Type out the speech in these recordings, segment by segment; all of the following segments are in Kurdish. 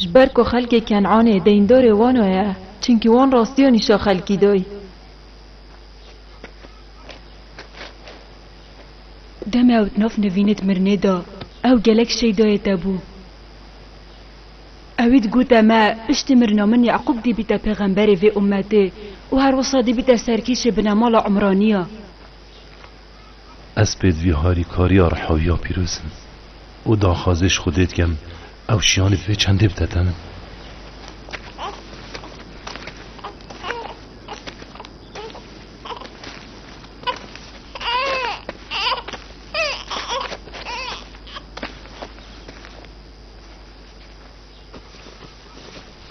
Ji ber ku xelkê Ken'anê deyndorê wan o ye, çimkî wan rastiya nîşa xelkî dayî. Demê ew di nav nivînê di mirinê de, ew gelek şey dayê te bû. Ewî digote me, piştî mirina min Ye'qûb dîbîte pêxemberê vê ummetê û her wisa dîbîte serkêşê binemala Umranî ya. Ez pêt vî harîkariya Rehawiya Pîroz im û daxwazê ji Xwedê dikim ew şiyanê bi vê çendê bide te min.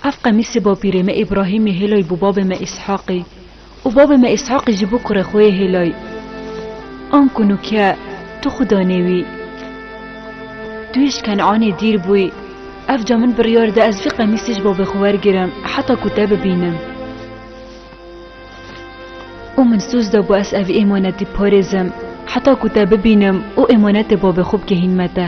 Ev qemîsê bapîrê me Îbrahîmê hêlay bo babê me Îshaqî û babê me Îshaqî jî bo kurê xwe yê hêlay. An ku nû ke tu xwe danê wî. Tu yê ji Kenanê dîr bûyî, ev ca min biryar da ez vî qemîsê ji babê xwe wergirim heta ku te bibînim. Û min soz dabû ez ev êmanetî biparêzim heta ku te bibînim û êmanetê babê xwe bigihînme te.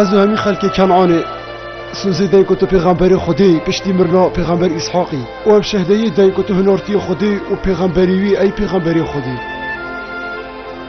Ez û hemî xelkê Kenanê sozê deng ku tu pêxemberê Xwedê piştî mirina pêxember Îshaqî û ev şehdeyê deng ku tu hinartiyê Xwedê û pêxemberî wî ey pêxemberê Xwedê.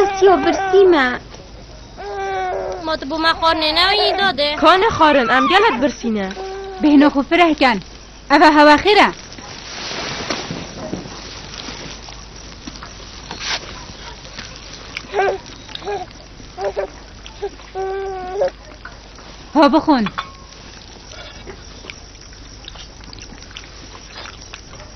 Asya birsî me. Ma tu bo me xwar nêne û yî dade. Ka ne xwarin em gelek birsî ne. Bêhna xwe fireh ken. Eva hewa xêr e. Ha bixwin.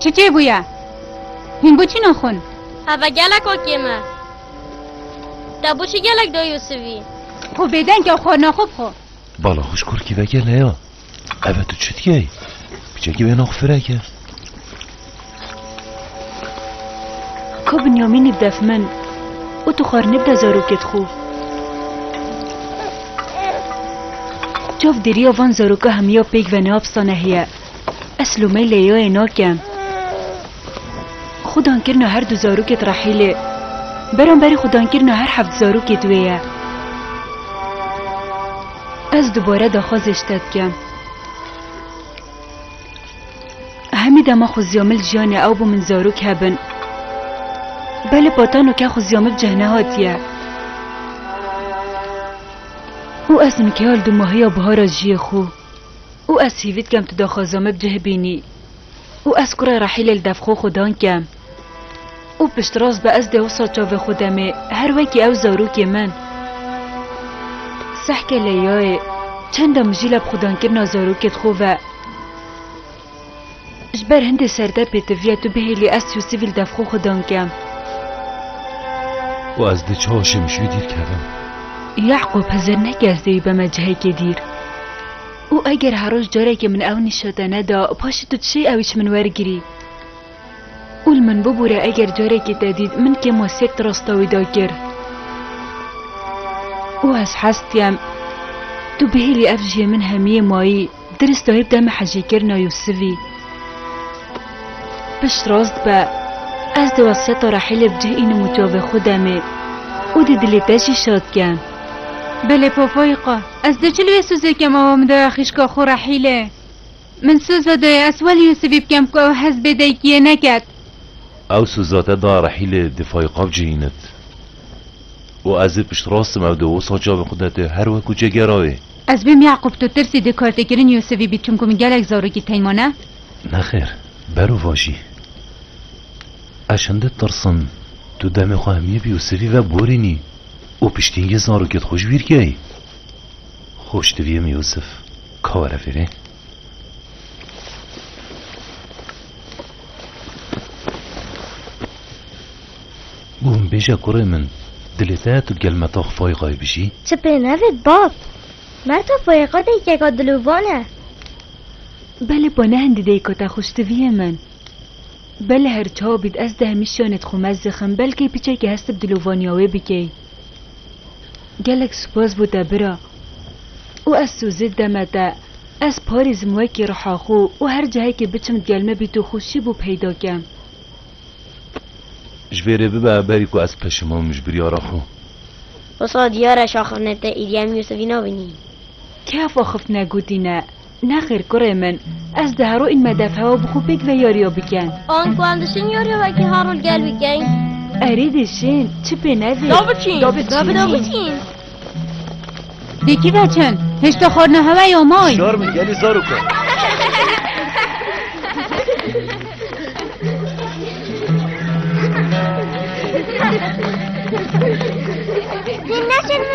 Çi çê bûye? Hîn bû çî naxwin? Heve gelek o kême. Te bû çi gelek do Yusufî? Xwe bêdeng ya xwe naxwe bixwe. Bala xwe ji kurkî vegele ya. Eve tu çi dikey? Kicekî wê naxwe fireke. Ka Binyamînî bide fmin û tu xwarine bide zarokê di xwe. Çav dêriya van zaroka hemiya pêk ve neapsane heye. Ez lomeyê Leyayê nakem. Xwedangirina her du zarokê di Rehîlê beramberî xwedangirina her heft zarokê di wê ye. Ez dubare daxwazê ji te dikim. Hemî dema xuziya min li jiyanê ew bû min zarok hebin. Belê patano ke xuziya min bi cih nehatiye. Û ez nikeya li dumahiya bihara jiyê xwe. Û ez hîvî dikem tu daxwaza min bi cih bînî. Û ez kurê Rehîlê li dev xwe xwedan kem. û piştrast be ez dewsa çavê xwe demê her wekî ew zarokê min sehke leyayê çenda mijîla bi xwedankirina zarokê di xwe ve ji ber hindê serde pêtiviya tu bihêlî ez çû sivîl dev xwe xwedan kem. û ez di çaşê min şû dîr kevim. Yaqûb hizir neke ez dê wî beme cihekê dîr. û eger her roj carekê min ew nîşe te neda paşê tu dişê ewî ji min wergirî. Û li min bibûre eger carekê te dît min kêm we sek di rasta wî de kir. Û ez hez dikem. Tu bihêlî ev jiyê min hemiyê mayî dirist dayî bi demê hejîkirina Yûsivî. Pişt rast be. Ez dê wesiyeta Rehîlê bi cih înim û çavê xwe demê. Û dê dilê te jî şad kem. Belê papayî qe. Ez dê çi li wê Sûzê kem awa min daya xîşka xwe Rehîlê. Min soza dayê ez weli Yûsivî bikem ku ew hez bê daykiyê neket. Ew soza te da Rehîlê difayê xwe bicihînit. Û ez ê piştrast im ew di wisa çavên xwe de tu her weku cegeraye. Ez bêm Yaqûb tu tirsî di kartekirin Yûsivî bî çimku min gelek zarokî tey mane? Nexêr, bero vajî. Ez şindi tirsim tu demê xwe himî bi Yûsivî ve borînî û piştîngê zarokê di xwe ji wî rikeyî. Xweş diviyim Yûsif ka were fêrê. Guhim bêje kurê min dilê te tu gel metax fayixayê bijî. Çi pê nevêt bab. Merta fayixa deykeka dilûvan e. Belê pa ne hindî deyka te xweş diviyê min. Belê her çawa bît ez di hemî şiyanê di xwe mez dixim belkê pîçekê hestib dilûvaniya wê bikey. Gelek spas bo te bira. Û ez sozê deme te. Ez parîzim wekî riha xwe û her cihekê biçim digel me bî tu xwişî bo peyda kem. Ji vê re bibe berî ku ez peşimam ji biryara xwe. Wisa diyar e şaxifne te Îlyam Yûsifî nabînî. Kê ev axifne gotîne? Nexir kurê min, ez di hero in me dev hewa bi xwe pêk ve yariya biken. An ku em dişin yariya wekî harol gel bikin? Erê dişin, çi pê nevê. Da biçin. Da biçin. Da biçin. Da biçin. Dê kî ve çin? Hişta xwarina hewa ya may. Şar min gelî zar û kar. Dinle şunu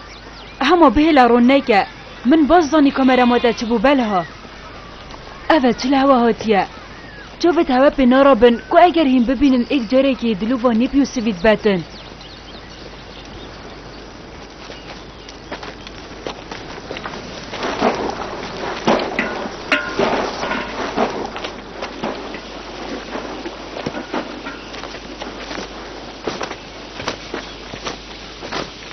Hema bihêla ron neke. Min baş zanî kamera ma te çi bû belha. Ev e çi li hewa hatiye. Çavê te hewe pê narabin ku eger hîn bibînin êk carekî dilûva nîp Yûsivî dibetin.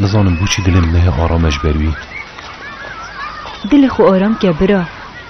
Nizanim bû çi dilê min nehê aram e ji ber wî. Dilê xwe aram ke bira.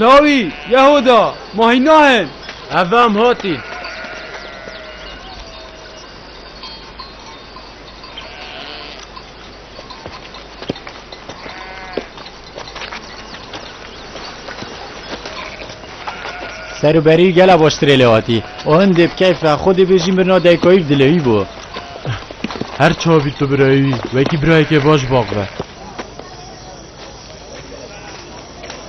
Lawî, Yehuda, ma hîna hin. Ev em hatîn. Serûberî gela baştirê lê hatî. O hin dê bi keyf ve xwe dê bêjî mirina dayikayî bi dilê wî bû. Her çawa bî tu birayê wî wekî birayekê baş bax be.